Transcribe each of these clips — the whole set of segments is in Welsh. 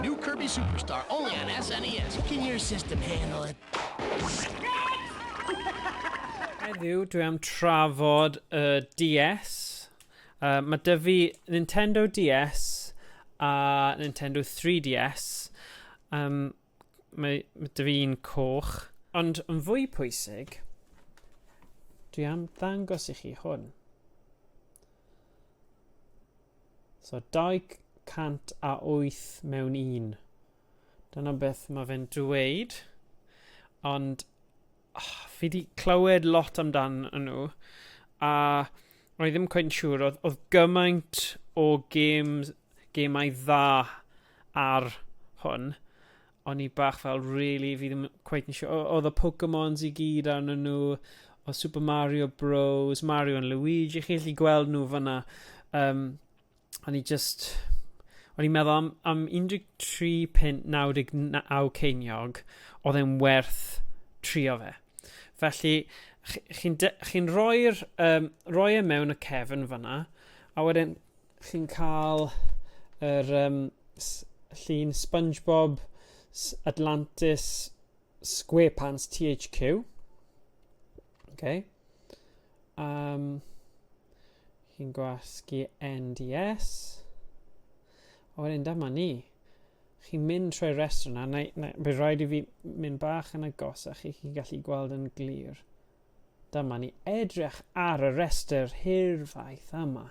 New Kirby Superstar, only on SNES. Can your system handle it? Heddiw, dwi am trafod y uh, DS. Uh, mae dy fi Nintendo DS a Nintendo 3DS. Um, Mae, mae dwi fi'n coch. Ond yn fwy pwysig, dwi am ddangos i chi hwn. So 208 mewn un. Dyna beth mae fe'n dweud. Ond oh, fi wedi clywed lot amdan nhw, a roedd ddim cweit yn siŵr, oedd, oedd gymaint o games, gemau dda ar hwn, o'n i bach fel, really, fi ddim cweit yn siŵr, oedd y Pokemons i gyd arnyn nhw, o Super Mario Bros, Mario and Luigi, chi'n gallu gweld nhw fyna. Um, o'n i just... O'n i'n meddwl am, am 13 punt 99 ceiniog, oedd e'n werth trio fe. Felly, chi'n chi rhoi'r um, rhoi e mewn y cefn fyna, a wedyn chi'n cael yr um, llun SpongeBob Atlantis SquarePants THQ. Okay. Um, chi'n gwasgu NDS. A wedyn dyma ni. Chi'n mynd trwy'r restr yna, neu, neu bydd rhaid i fi mynd bach yn agosach i chi gallu gweld yn glir. Dyma ni edrych ar y restr hirfaith yma.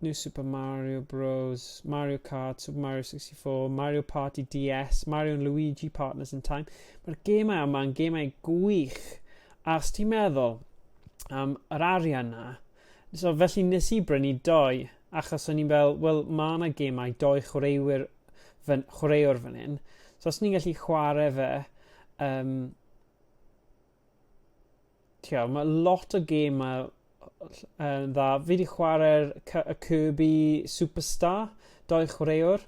New Super Mario Bros, Mario Kart, Super Mario 64, Mario Party DS, Mario and Luigi Partners in Time. Mae'r gemau yma yn gemau gwych. A os ti'n meddwl am yr arian na, so felly nes i brynu doi, achos o'n i'n fel, wel, mae yna gemau doi chwaraewyr fan, chwaraewr fan hyn. So os ni'n gallu chwarae fe, um, Ti'o, mae lot o gêmau yn dda. Fi 'di chwarae'r Cy- y Kirby Superstar, dou chwaraewr.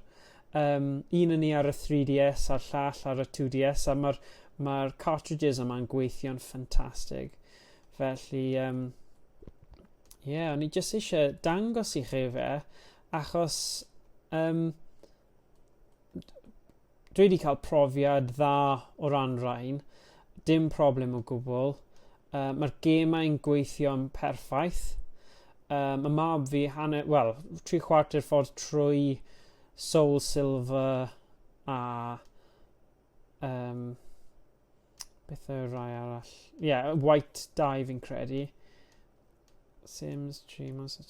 Yym, un o ni ar y 3DS a'r llall ar y 2DS, a mae'r ma cartridges yma'n gweithio'n ffantastig. Felly, um, ie, yeah, o'n i jyst eisiau dangos i chi fe, achos um, dwi wedi cael profiad dda o ran rhain, dim problem o gwbl. Uh, Mae'r gemau'n gweithio'n perffaith. Um, mae mab fi hanner, wel, tri chwarter ffordd trwy Soul Silver a um, beth yw'r rai arall? Ie, yeah, White Dive yn credu. Sims, Dreamers...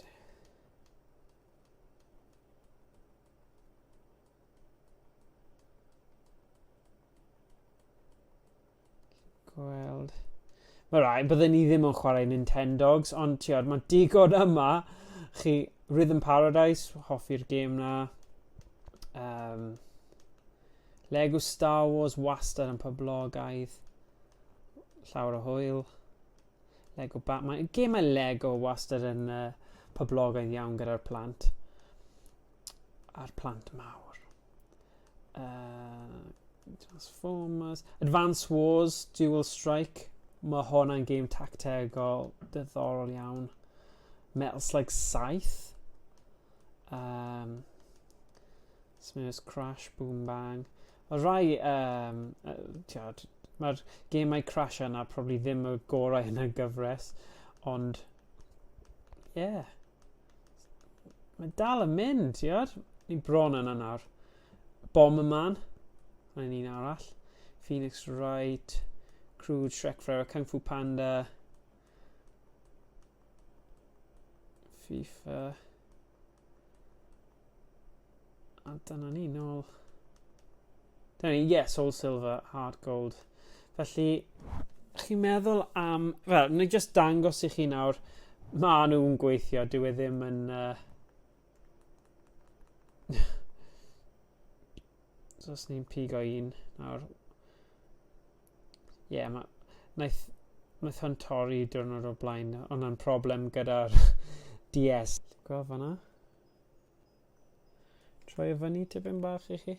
Gweld. Mae rai, byddwn ni ddim yn chwarae Nintendogs, ond tiod, mae digon yma. Chi, Rhythm Paradise, hoffi'r gêm na. Um, Lego Star Wars wastad yn poblogaidd. Llawer o hwyl. Lego Batman. Mae gemau Lego wastad yn uh, poblogaidd iawn gyda'r plant. A'r plant mawr. Uh, Transformers. Advance Wars, Dual Strike. Mae hwnna'n gêm tactegol dyddorol iawn. Metal Slug 7. Um, Smurfs Crash, Boom Bang. Mae rhai, um, tiod, mae'r gemau Crash yna probably ddim y gorau yn y gyfres, ond, ie. Yeah. Mae dal yn mynd, tiod. Ni'n bron yna nawr. Bom y man. Mae'n un arall. Phoenix Wright, Crude, Shrek Forever, Kung Fu Panda, FIFA. A dyna ni nôl. Dyna ni, yeah, soul silver, hard gold. Felly, chi'n meddwl am... Wel, ni just dangos i chi nawr, maen nhw'n gweithio, dyw e ddim yn... Uh... so, os ni'n pigo un nawr, Ie, yeah, mae... Wnaeth, wnaeth hwn torri diwrnod o'r blaen. Ond na'n problem gyda'r DS. Gweld fanna? Troi y fyny tipyn bach i chi.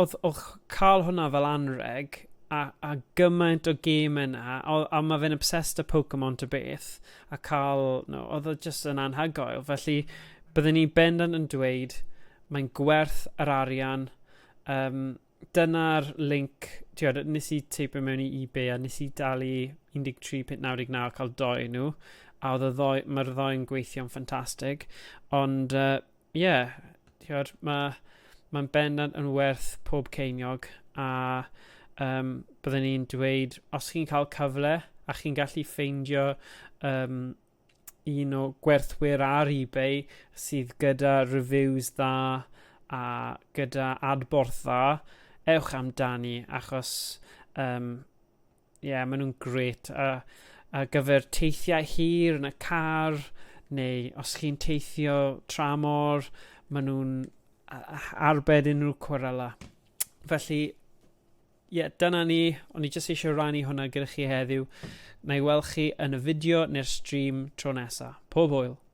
oedd, oedd cael hwnna fel anreg, a, a gymaint o gêm yna, a, a mae fe'n obsessed â Pokemon to beth, a cael, no, oedd o just yn anhygoel. Felly, byddwn ni bendant yn dweud, mae'n gwerth yr arian, um, dyna'r link, ti'n nes i teipio mewn i eBay a nes i dalu 13.99 cael doi nhw, a oedd y ddoi, mae'r ddoi'n gweithio'n ffantastig, ond uh, ie, ti'od ma' ma'n bendant yn werth pob ceiniog a um, byddwn i'n dweud os chi'n cael cyfle a chi'n gallu ffeindio um, un o gwerthwyr ar eBay sydd gyda reviews dda a gyda adborth dda, ewch amdani achos um, Ie, yeah, maen nhw'n gret. A, a gyfer teithiau hir yn y car, neu os chi'n teithio tra mor, maen nhw'n arbed unrhyw cwrela. Felly, ie, yeah, dyna ni. O'n i jyst eisiau rannu hwnna gyda chi heddiw. Na i weld chi yn y fideo neu'r stream tro nesaf. Pob hwyl!